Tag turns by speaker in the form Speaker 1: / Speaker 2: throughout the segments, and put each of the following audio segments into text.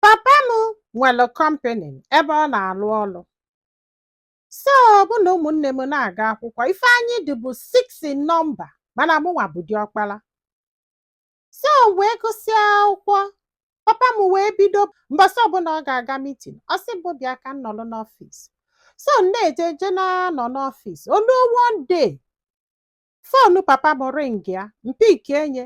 Speaker 1: papa m nwere kọmpani ebe ọ na-alụ ọlụ so mụ na ụmụnne m na-aga akwụkwọ ife anyị dị bụ six in number mana mụnwa bụ diọkpala so m wee gụsịa akwụkwọ papa m wee bido mbọsị ọbụla ọ ga-aga mitin ọ sị mụ bịa ka m nọrọ n'ọfịs so m na-eje je na-anọ n'ọfịs o lue one day fonu papa m ringịa m pikie nye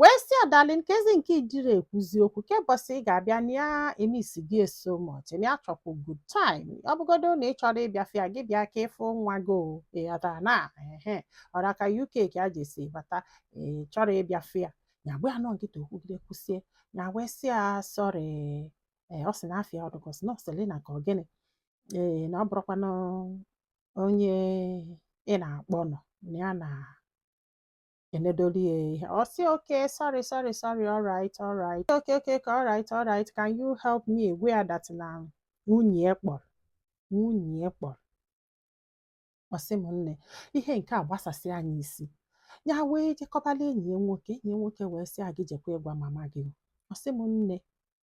Speaker 1: wee sị ya darling keezi nke ị dịrọ ekwuzi okwu kee mbọsị ị ga-abịa na ya emisi gị so much na ya chọkwu good time ọ bụgodu na ị chọrọ ịbịa fụ ya gị bịa ka ị fụ nwa gị o ị ghọtara na ehe ọra ka uk ka a jesi bata ị chọrọ ịbịa fụ ya ya gba nọọ nkịtị o kwugide kwusịa ya wee sị ya sorry ee ọ sị na afa ya ọ dị ka ọ sị na selina ka ọ gịnị ee na ọ bụrọkwanụ onye ị na-akpọ nọ na ya na enedolu ya ihe ọ sị okay sorry sorry sorry alright alright okay okay alright alright can you help me gwa ya that na nwunye ya kpọrọ nwunye ya kpọrọ ọ sị m nne ihe nke a agbasasịa nya isi ya wee je kọbala enyi ya nwoke enyi ya nwoke wee sị ya gị jekwa ịgwa mama gị ọ sị m nne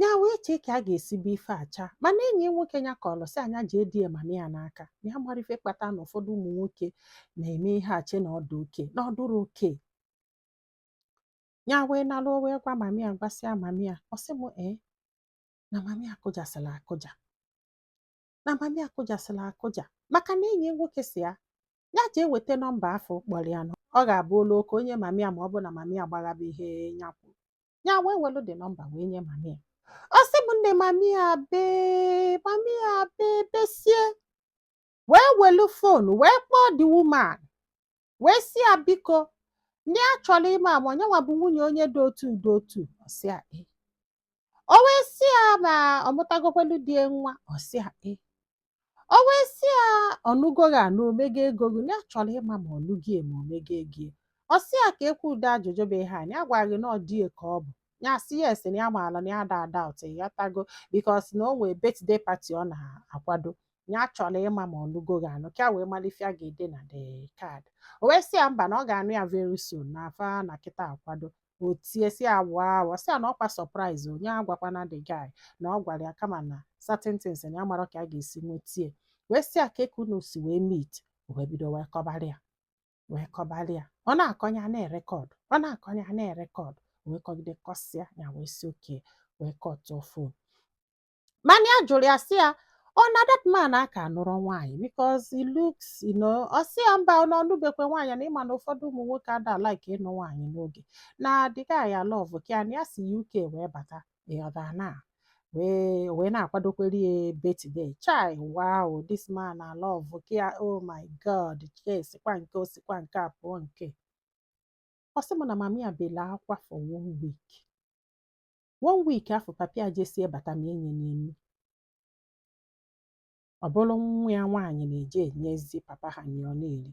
Speaker 1: ya wee chee ka a ga-esi bụ ife acha mana enyi nwoke ya kọlụ sị nya jidie mami ya n'aka na ya amarọ ife kpata na ụfọdụ ụmụ nwoke na-eme ihe e chee na ọ dị okay na ọ dịrọ okay ya wee nalụ wee gwa mami ya gwasịa mami ya ọ sị m ee na mami ya akụjasịla akụja na mami ya akụjasịla akụja maka na enyi nwoke sị ya ya jee weta nọmba afụ kpọrọ ya na ọ ga-abụ o luo ka o nye mami ya ma ọ bụ na mami ya gbaghaba ihe ya kwuru ya wee welu the nọmba wee nye mami ya ọ sị m nne mami ya bee mami ya bee besie wee welu fonu wee kpọọ the woman wee sị ya biko na ya chọrọ ịma ma ọ nyanwa bụ nwunye onye dị otu dị otu ọ sị ya ee o wee sị ya ma ọ mụtagokwalụ di ya nwa ọ sị ya ee o wee sị ya ọ nụgo gị anụ o mego ego gị na ya chọrọ ịma ma ọ nụgo ya ma o mego ego ya ọ sị ya keekwa ụdị ajụjụ bụ ihe a ya agwara gị na ọ di ya ka ọ bụ ya sị ya yes na ya amaala na ya da ada ụtụ ya tago because na o nwee birthday party ọ na-akwado ya chọrọ ịma ma ọ nụgo gị anụ ka wee malụ ife ya ga-ede na the card o wee sị ya mba na ọ ga-anụ ya very soon na fa nọ kịta akwado o tie sị ya wow sị ya na ọ kwa surprise o nya agwakwana the guy na ọ gwara ya kama na certain things na ya amarọ ka ya ga-esi nweta ya wee sị ya kee ka unu si wee meet o wee bido wee kọbara ya wee kọbara ya ọ na-akọ nya na-erekọdụ ọ na-akọ nya na-erekọdụ wee kọgide kọsịa ya wee sị okay wee kọtụọ fon mana ya jụrụ ya sị ya ọ na that man aka nụrọ nwaanyị because he looks you know ọ sị ya mba na ọ nụbekwe nwaanyị na ị ma na ụfọdụ ụmụ nwoke ada like ịnụ nwaanyị n'oge na the guy a love ka ya na ya si UK wee bata ị ghọta na wee wee na-akwadokwere ya birthday chai wow this man a love ka ya oh my god ka esikwa nke o sikwa nke a pụọ nke ọ sị m na mama ya bela akwa for one week one week afụ papa ya jesie bata ma enye ya nri ọ bụrụ nwa ya nwaanyị na-eje enyezi papa ha nri ọ na-eri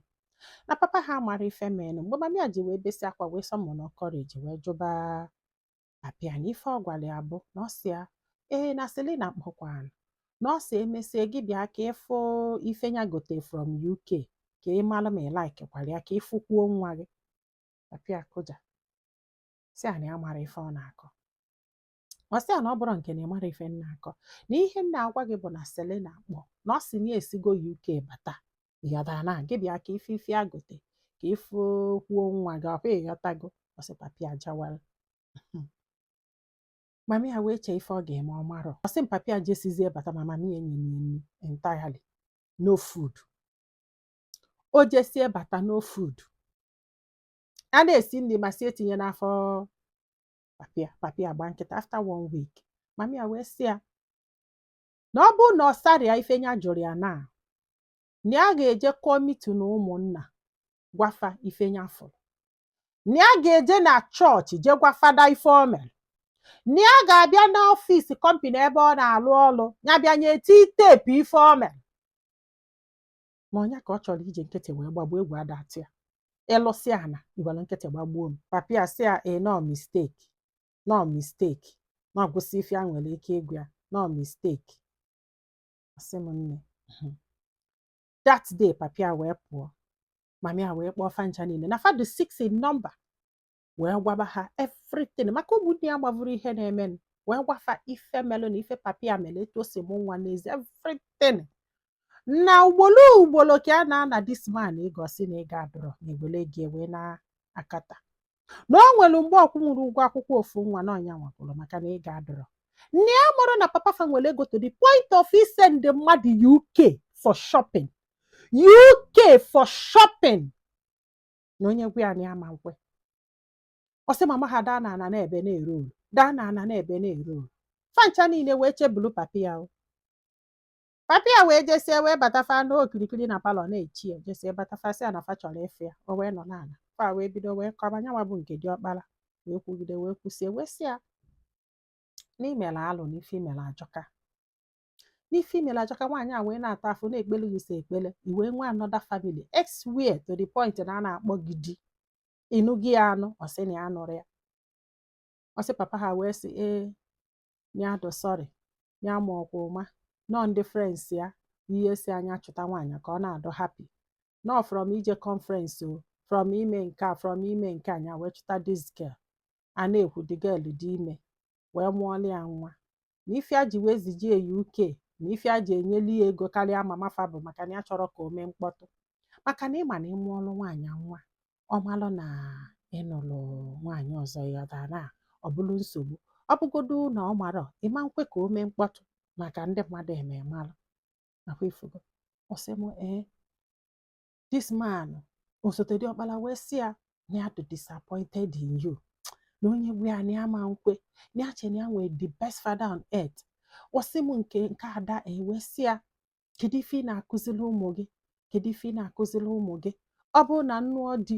Speaker 1: na papa ha amarọ ife menụ mgbe mama ya ji wee besi akwa wee summon courage wee jụba papa ya na ife ọ gwara ya bụ na ọ sị ya ee na selina kpọkwanụ na ọ sị emesie gị bịa ka ị fụ ife ya gote from uk ka ị mara ma ị laikikwara ya ka ị fụkwuo nwa gị papa ya akụja sị ya na ya amarọ ife ọ na-akọ ọ sị ya na ọ bụrụ nke na ị marọ ife m na-akọ na ihe m na-agwa gị bụ na Selina kpọ na ọ sị na ya esigo UK bata ị ghọtara na gị bịa ka ị fụ ife ya gote ka ị fụkwuo nwa gị ọkwa ị ghọtago ọ sị papa ya ajawala mama ya wee chee ife ọ ga-eme ọ marọ ọ sị m papa ya jesizie bata ma mama ya enye ya nri entirely no food o jesie bata no food a na-esi nri ma sị etinye n'afọ papa ya papa ya agba nkịtị after one week mama ya wee sị ya na ọ bụrụ na ọ sarọ ya ife nya jụrụ ya na na ya ga-eje kuo meeting ụmụnna gwa fa ife nya fụrụ na ya ga-eje na chọọchị je gwa fada ife o mere na ya ga-abịa n'ọfịs company ebe ọ na-alụ ọlụ ya bịa nye tii teepu ife o mere ma ọ nya ka ọ chọrọ iji nkịtị wee gbagbuo egwu ada atụ ya ị lụsịa ana i were nkịtị gbagbuo m papa ya sị ya ee na ọ mistake na ọ mistake na ọ gwụsịa ife ya nwere ike ịgwa ya na ọ mistake ọ sị m nne "Mhm." that day papa ya wee pụọ mama ya wee kpọọ fa ncha niile na fa dụ six in number wee gwaba ha everything maka ụmụnne ya gbavuru ihe na-emenụ wee gwa fa ife melụ na ife papa ya mere etu o si mụọ nwa n'ezi everything na ugbolo ugbolo ka a na-ana this man ego ọ sị na ego adụrọ na egbele gị ewe na akata na o nwere mgbe ọ kwụnwụrọ ụgwọ akwụkwọ ofu nwa na ọ nya nwa kwụrụ maka na ego adụrọ na ya amarọ na papa fa nwere ego to the point of isend mmadụ UK for shopping UK for shopping na onye gwa ya na ya ma nkwe ọ sị mama ha daa n'ana na-ebe na-ere olu daa n'ana na-ebe na-ere olu fancha niile wee chebulu papa ya o papa ya wee jesie wee bata fa nọ okirikiri na palọ na-eche ya jesie bata fa sị ya na fa chọrọ ịfụ ya o wee nọ n'ana fa wee bido wee kọba nya nwa bụ nke diọkpala wee kwugide wee kwusie wee sị ya na i mere alụ na ife i mere ajọka n'ife i mere ajọka nwaanyị a wee na-ata afụfụ na-ekpele gị sọ ekpele i wee nwee another family elsewhere to the point na a na-akpọ gị di ịnụ gị ya anụ ọ sị na ya nụrụ ya ọ sị papa ha wee sị na ya dụ sorry na ya amarọkwa ụma n'ọ ndị friends ya ihe sị nya chọta nwaanyị ka ọ na-adụ happy n'ọ from ije conference o from ime nke a from ime nke a nya wee chọta this girl a na-ekwu the girl dị ime wee mụọlụ ya nwa na ife a ji wee zije ya UK na ife a ji enyelu ya ego karịa mama fa bụ maka na ya achọrọ ka o mee mkpọtụ maka na ị ma na ị mụọrụ nwaanyị nwa ọ malụ na ị nụlụ nwaanyị ọzọ ya dara ọ bụrụ nsogbu ọ bụgodu na ọ marọ ị ma nkwe ka o mee mkpọtụ maka ndị mmadụ eme malụ nakwa ị fụgo ọ sị m ee this man osote diọkpala wee sị ya na ya dị disappointed in you na onye gwa ya na ya ma nkwe na ya che na ya nwee the best father on earth ọ sị m nke ada wee sị ya kedu ife ị na-akụziri ụmụ gị kedu ife ị na-akụziri ụmụ gị ọ bụrụ na m nụọ di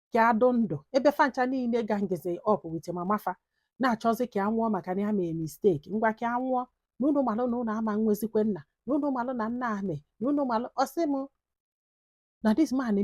Speaker 1: ka adụ ndụ ebe fancha niile gangizi up with mama fa na-achọzi ka anwụọ maka na ya mee mistake ngwa ka anwụọ na unu malụ na unu ama nwezikwe nna na unu malụ na nna ame na unu malụ ọ sị m na this man